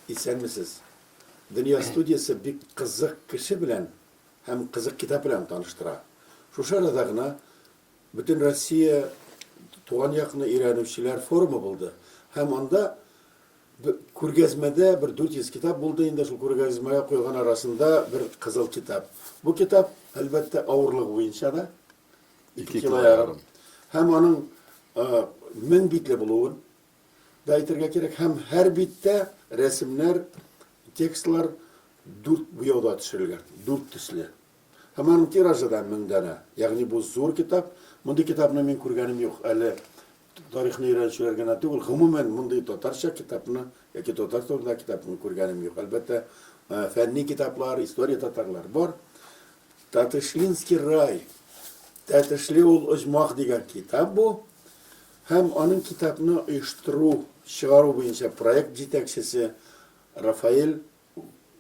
Исәнмесез. Дөнья студиясе бик кызык кеше белән һәм кызык китап белән таныштыра. Шушы арада гына бөтен Россия туган якны өйрәнүчеләр форумы булды һәм анда Б Күргәзмәдә бер 400 китап булды инде, шул күргәзмәгә куелган арасында бер кызыл китап. Бу китап, әлбәттә, авырлыгы буенча да, ике кило ярым. Һәм аның мең битле булуын да әйтергә кирәк. Һәм һәр биттә рәсемнәр, текстлар дүрт буяуда төшерелгән, дүрт төсле. Һәм аның тиражы да мең данә. Ягъни бу зур китап. Мондый китапны мин күргәнем юк әле. Тарихны өйрәнүчеләр генә түгел, гомумән, мондый татарча китапны яки татар турындагы китапны күргәнем юк. Әлбәттә, фәнни китаплар, история татарлар бар. Татышлинский рай, Тәтешле ул оҗмах дигән китап бу. Һәм аның китапны оештыру, чыгару буенча проект җитәкчесе Рафаэль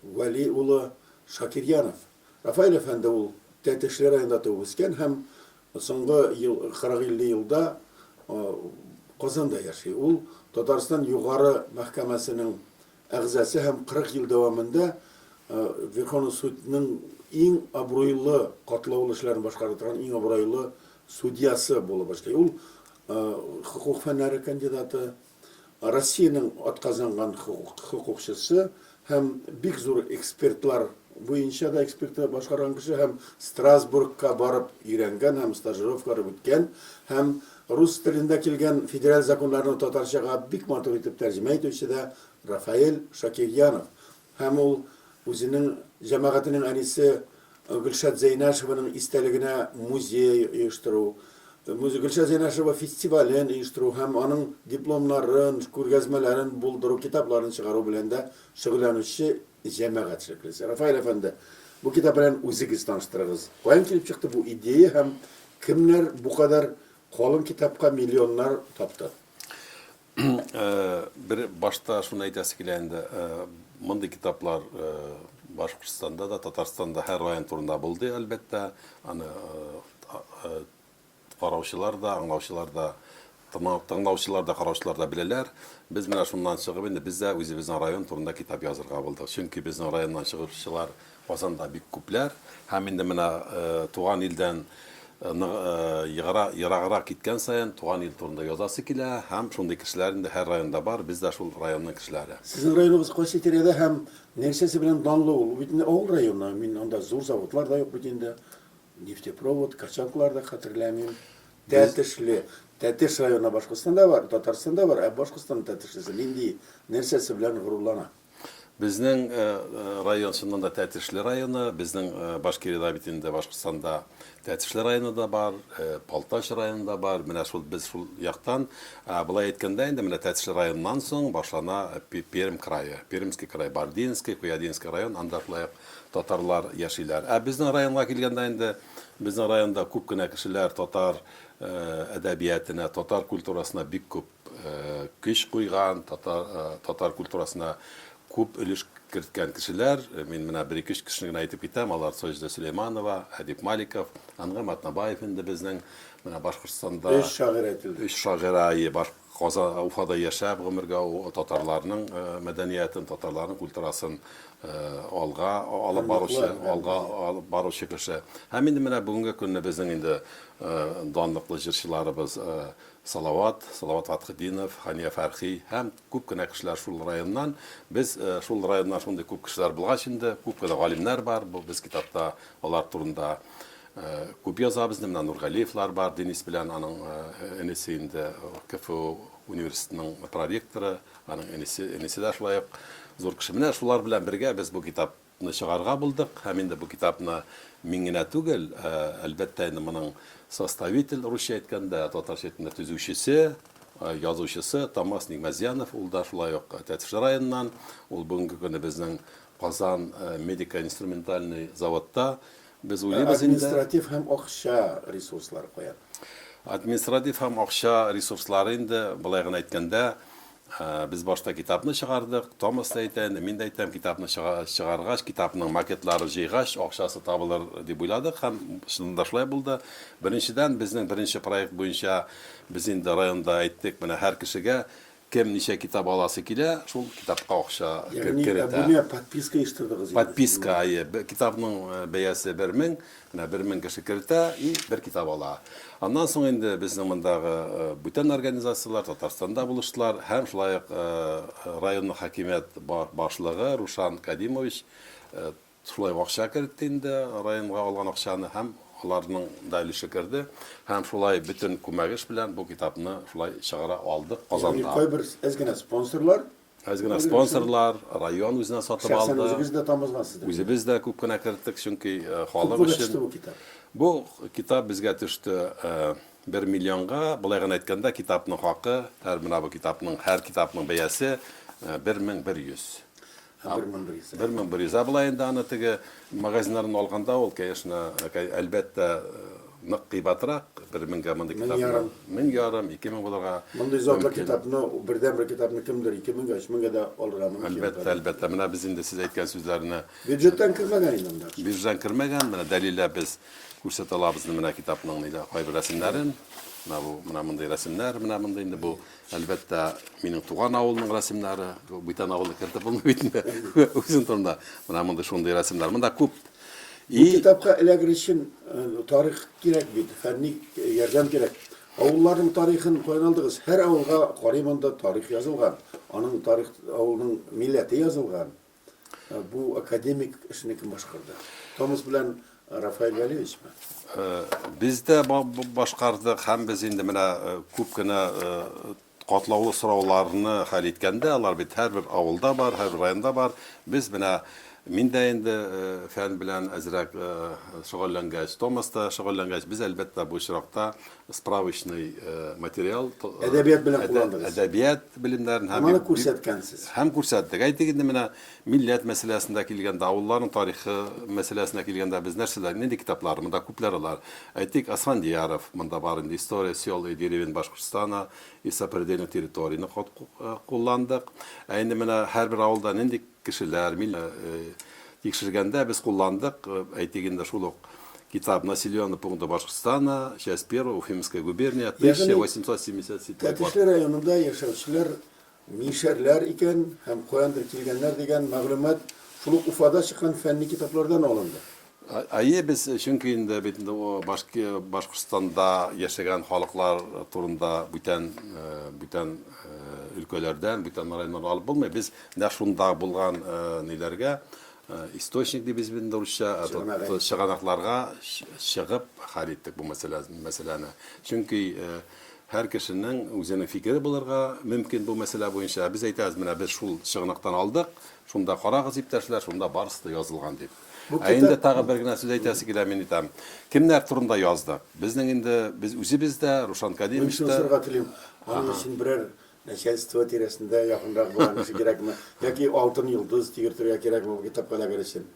Вәли улы Шакирьянов. Рафаэль әфәнде ул Тәтешле районында туып үскән һәм соңгы ел 40-50 елда Казанда яши. Ул Татарстан Югары мәхкәмәсенең әгъзасы һәм 40 ел дәвамында Верховный судның иң абруйлы катлаулы эшләрен башкара торган иң абруйлы судьясы булып эшли. Ул хокук фәннәре кандидаты. Россиянең атказанган хокукчысы һәм бик зур экспертлар буенча да экспертлар башкарган кеше һәм Страсбургка барып өйрәнгән һәм стажировкалар үткән һәм рус телендә килгән федераль законнарны татарчага бик матур итеп тәрҗемә итүче дә Рафаэль Шакирьянов Һәм ул үзенең җәмәгатенең әнисе Гөлшат Зәйнәшеваның истәлегенә музей оештыру, Гөлшат Зәйнәшева фестивален оештыру һәм аның дипломнарын, күргәзмәләрен булдыру, китапларын чыгару белән дә шөгыльләнүче җәмәгать эшлеклесе. Рафаэль әфәнде, бу китап белән үзегез таныштырыгыз. Каян килеп чыкты бу идея һәм кемнәр бу кадәр калын китапка миллионнар тапты? Бер башта шуны әйтәсе килә инде, мондый китаплар Башкортстанда да, Татарстанда һәр район турында булды, әлбәттә. Аны караучылар да, аңлаучылар да, тыңлаучылар да, караучылар да беләләр. Без менә шуннан чыгып инде, без дә үзебезнең район турында китап язырга булдык. Чөнки безнең районнан чыгучылар Казанда бик күпләр һәм инде менә туган илдән ераграк киткән саен туган ил турында язасы килә һәм шундый кешеләр инде һәр районда бар, без дә шул районның кешеләре. Сезнең районыгыз кайсы тирәдә һәм нәрсәсе белән данлы ул? Ул бит инде авыл районы, мин анда зур заводлар да юк бит инде, нефтепровод, качалкалар да хәтерләмим. Тәтешле, Тәтеш районы Башкортстанда бар, Татарстанда бар, ә Башкортстанның Тәтешлесе нинди, нәрсәсе белән горурлана? Безнең район чыннан да Тәтешле районы. Безнең Башкириядә бит инде Башкортстанда Тәтешле районы да бар, Балтач районы да бар. Менә шул без шул яктан. Болай әйткәндә инде менә Тәтешле районыннан соң башлана Пермь крае. Пермский край, Бардинский, Куядинский район, анда шулай ук татарлар яшиләр. Ә безнең районга килгәндә инде безнең районда күп кенә кешеләр татар әдәбиятына, татар культурасына бик күп көч куйган, татар, татар культурасына күп өлеш керткән кешеләр, мин менә бер ике кешене генә әйтеп китәм, алар Саҗидә Сөләйманова, Әдип Маликов, Ангам Атнабаев инде безнең менә Башкортстанда. Өч шагыйрь әйтелде. Өч шагыйрь, ие, баш Казан, Уфада яшәп гомергә татарларның мәдәниятен, татарларның культурасын алга алып баручы, алга алып баручы кеше. Һәм инде менә бүгенге көнне безнең инде данлыклы җырчыларыбыз Салават, Салават Фатхетдинов, Хания Фәрхи һәм күп кенә кешеләр шул районнан. Без шул районнан шундый күп кешеләр булгач инде, күп кенә галимнәр бар, бу без китапта алар турында күп язабыз инде, менә Нургалиевлар бар, Денис белән аның энесе инде КФУ университетының проректоры, аның энесе, энесе дә шулай ук зур кеше. Менә шулар белән бергә без бу китап ны чыгарга булдык һәм инде бу китапны мин генә түгел, ә, әлбәттә, инде моның составитель, русча әйткәндә, татарча әйткәндә, төзүчесе, ә, язучысы Томас Нигмәзьянов, ул да шулай ук Тәтеш районыннан, ул бүгенге көне безнең Казан ә, медико-инструментальный заводта. Без уйлыйбыз инде. Административ һәм акча ресурслары кая? Административ һәм акча ресурслары инде, болай гына әйткәндә, Без башта китапны чыгардык. Томас та әйтә, мин дә әйтәм, китапны чыгаргач, китапның макетларын җыйгач, акчасы табылыр дип уйладык һәм чыннан да шулай булды. Беренчедән, безнең беренче проект буенча без инде районда әйттек, менә һәр кешегә кем ничә китап аласы килә, шул китапка акча керетә. Ягъни абунә, подписка оештырдыгыз инде. Подписка, әйе. Китапның бәясе бер мең, Менә бер мең кеше кертә и бер китап ала. Аннан соң инде безнең мондагы бүтән организацияләр Татарстанда булыштылар һәм шулай ук районның хакимият башлыгы Рушан Кадимович шулай ук акча кертте инде, районга алган акчаны һәм аларның да өлеше керде. Һәм шулай бөтен күмәгеш белән бу китапны шулай чыгара алдык Казанда. Ягъни кайбер әз генә спонсорлар Әз генә спонсорлар, район үзенә сатып алды. Шәхсән үзегез дә тамызгансыз. Үзебез дә күп кенә керттек, чөнки э, халык өчен. Бу китап. Бу китап безгә төште 1 э, миллионга. Былай гына әйткәндә, китапның хакы, һәр менә бу китапның, һәр китапның бәясе 1100. Э, 1100. 1100. Ә былай инде аны теге Магазиннардан алганда ул, конечно, әлбәттә, нык кыйбатрак, бер меңгә мондый китапны. Мең ярым. Мең ярым, ике мең булырга. Мондый затлы китапны, бердәнбер китапны кемдер ике меңгә, өч меңгә дә алырга мөмкин. Әлбәттә, әлбәттә. Менә без инде сез әйткән сүзләрне. Бюджеттан кермәгән инде анда. Бюджеттан кермәгән, менә дәлилләп без күрсәтә алабыз менә китапның нидә кайбер рәсемнәрен. Менә бу, менә мондый рәсемнәр, менә мондый инде бу Әлбәттә, минем туган авылның рәсемнәре, бүтән авылны кертеп булмый бит инде. Үзем турында менә мондый шундый рәсемнәр. Монда күп. Бу китапка эләгер өчен э, тарих кирәк бит, фәнни э, ярдәм кирәк. Авылларның тарихын каян алдыгыз? Һәр авылга карыйм анда тарих язылган. Аның тарих авылның милләте язылган. Бу академик эшне кем башкарды? Томас белән Рафаэль Вәлиевич ме? Без дә башкардык һәм без инде менә күп кенә катлаулы сорауларны хәл иткәндә, алар бит һәрбер авылда бар, һәрбер районда бар. Без менә мин дә инде фән белән әзрәк шөгыльләнгәч, Томас та шөгыльләнгәч, без әлбәттә бу очракта справочный материал, әдәбият белән кулландыгыз. Әдәбият белемнәрен һәм аны күрсәткәнсез. Һәм күрсәттек. Әйтик инде менә милләт мәсьәләсендә килгәндә, авылларның тарихы мәсьәләсенә килгәндә без нәрсәләр, нинди китаплар, монда күпләр алар. Әйтик, Асфандияров монда бар инде, История сел и деревень Башкортостана и сопредельных территорийны кулландык. Ә инде менә һәрбер авылда нинди Кешеләр, мил тикшергәндә без кулландык, әйтик инде шул ук китап Населены пункты Башкортстана, часть первая, Уфимская губерния, 1877 Ягъни Тәтешле районында яшәүчеләр мишәрләр икән һәм каяндыр килгәннәр дигән мәгълүмат шул ук Уфада чыккан фәнни китаплардан алынды. Әйе, без, чөнки инде бит инде башки Башкортстанда яшәгән халыклар турында бүтән бүтән өлкәләрдән, бүтән районнардан алып булмый. Без нәкъ шунда булган ниләргә источник дибез бит инде урысча, чыганакларга чыгып хәл иттек бу мәсьәләне. Чөнки һәр кешенең үзенең фикере булырга мөмкин бу мәсьәлә буенча. Без әйтәбез, менә без шул чыганактан алдык, шунда карагыз, иптәшләр, шунда барысы да язылган дип. Ә инде тагы бер генә сүз әйтәсе килә, мин әйтәм. Кемнәр турында яздык? Безнең инде без үзебез дә, Рушан Кәримович та. Мин сорарга телим, аның өчен берәр начальство тирәсендә якынрак булган кеше кирәкме? Яки алтын йолдыз тигертергә кирәкме бу китапка эләгер өчен?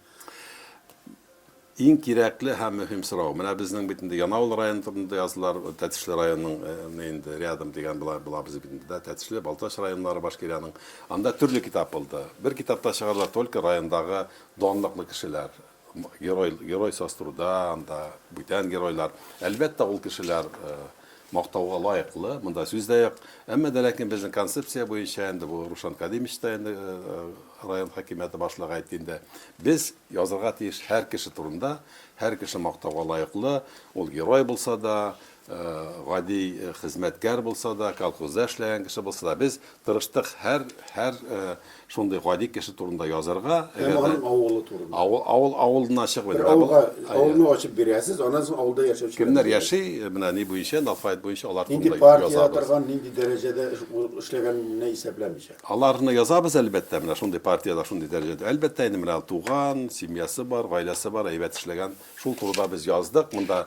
Иң кирәкле һәм мөһим сорау. Менә безнең бит инде Янаул районы турында яздылар, Тәтешле районының инде рядом дигән була, була без бит инде, да, Тәтешле, Балтач районнары Башкирияның. Анда төрле китап булды. Бер китапта чыгардылар только райондагы Данлыклы кешеләр, герой, герой саструда, анда бүтән геройлар. Әлбәттә, ул кешеләр мактауга лаеклы, монда сүз дә юк. Әмма дә ләкин безнең концепция буенча инде бу Рушан Кадимович та инде район хакимияте башлыгы әйтте инде. Без язырга тиеш һәр кеше турында, һәр кеше мактауга лаеклы, ул герой булса да, гади хезмәткәр булса да, колхозда эшләгән кеше булса да, без тырыштык һәр, һәр шундый гади кеше турында язырга. Һәм аның авылы турында. Авыл, авыл, авылына чыгып. Бер авылга, авылны ачып бирәсез, аннан соң авылда яшәүче. Кемнәр яши, менә ни буенча, алфавит буенча алар турында язабыз. Нинди партиядә торган, нинди дәрәҗәдә эшләгәнне исәпләмичә. Аларны язабыз, әлбәттә, менә шундый партиядә, шундый дәрәҗәдә. Әлбәттә, инде менә туган, семьясы бар, гаиләсе бар, әйбәт эшләгән. Шул турыда без яздык. Монда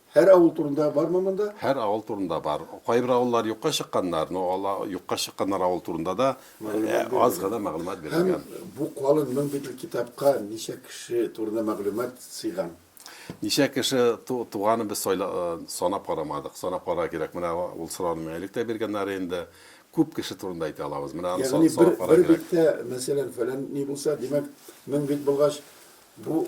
Һәр авыл турында бармы монда? Һәр авыл турында бар. Кайбер авыллар юкка чыкканнар, но ал юкка чыкканнар авыл турында да аз гына мәгълүмат бирелгән. Һәм бу калын мең битл китапка ничә кеше турында мәгълүмат сыйган? Ничә кеше туганын без санап карамадык. Санап карарга кирәк. Менә ул сорауны миңа элек тә биргәннәр инде. Күп кеше турында әйтә алабыз. Менә аны санап карарга кирәк. Ягъни бер биттә, мәсәлән, фәлән ни булса, димәк, мең бит булгач, бу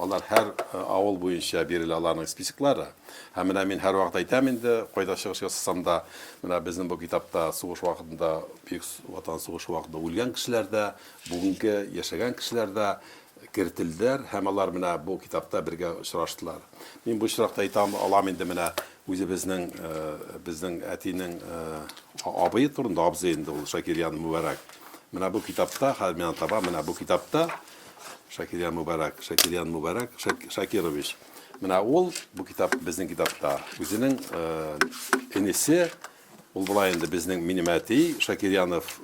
Алар һәр авыл буенча бирелә аларның списоклары. Һәм менә мин һәрвакыт әйтәм инде, кайда чыгыш ясасам да, менә безнең бу китапта сугыш вакытында, Бөек Ватан сугышы вакытында үлгән кешеләр дә, бүгенге яшәгән кешеләр дә кертелделәр һәм алар менә бу китапта бергә очраштылар. Мин бу очракта әйтә алам инде менә үзебезнең, безнең әтинең абые турында, абзый инде ул, Шакирьян Мубәрәк. Менә бу китапта, хәзер мин аны табам, менә бу китапта Шакирьян Мубарак, Шакирьян Мубарак, Шакирович. Менә ул, бу китап безнең китапта. Үзенең энесе, ул була инде безнең минем әти Шакирьянов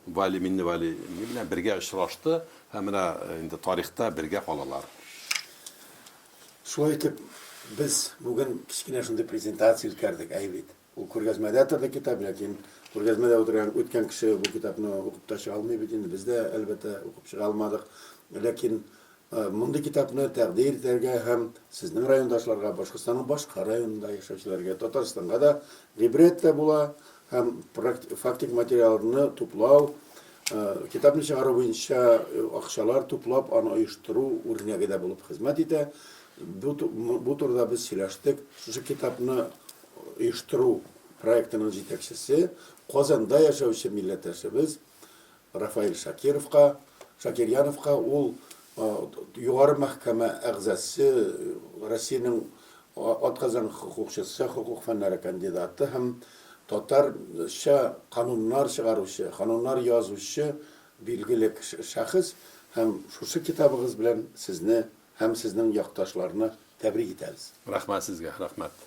Вали Минневали белән бергә очрашты һәм менә инде тарихта бергә калалар. Шулай итеп, без бүген кечкенә шундый презентация үткәрдек, әй бит. Ул күргәзмәдә торды китап, ләкин күргәзмәдә утырган үткән кеше бу китапны укып та чыга алмый бит инде. Без дә, әлбәттә, укып чыга алмадык. Ләкин мондый китапны тәкъдир итәргә һәм сезнең райондашларга, Башкортстанның башка районында яшәүчеләргә, Татарстанга да гыйбрәт тә була һәм фактик материалны туплау, китапны чыгару буенча акчалар туплап, аны оештыру үрнәге дә булып хезмәт итә. Бу турыда без сөйләштек. Шушы китапны оештыру проектының җитәкчесе, Казанда яшәүче милләттәшебез Рафаэль Шакировка, Шакирьяновка, ул Югары мәхкәмә әгъзасе, Россиянең атказанган хокукчысы, хокук фәннәре кандидаты һәм татарча кануннар чыгаручы, кануннар язучы билгеле шәхес һәм шушы китабыгыз белән сезне Һәм сезнең якташларны тәбрик итәбез. Рәхмәт сезгә, рәхмәт.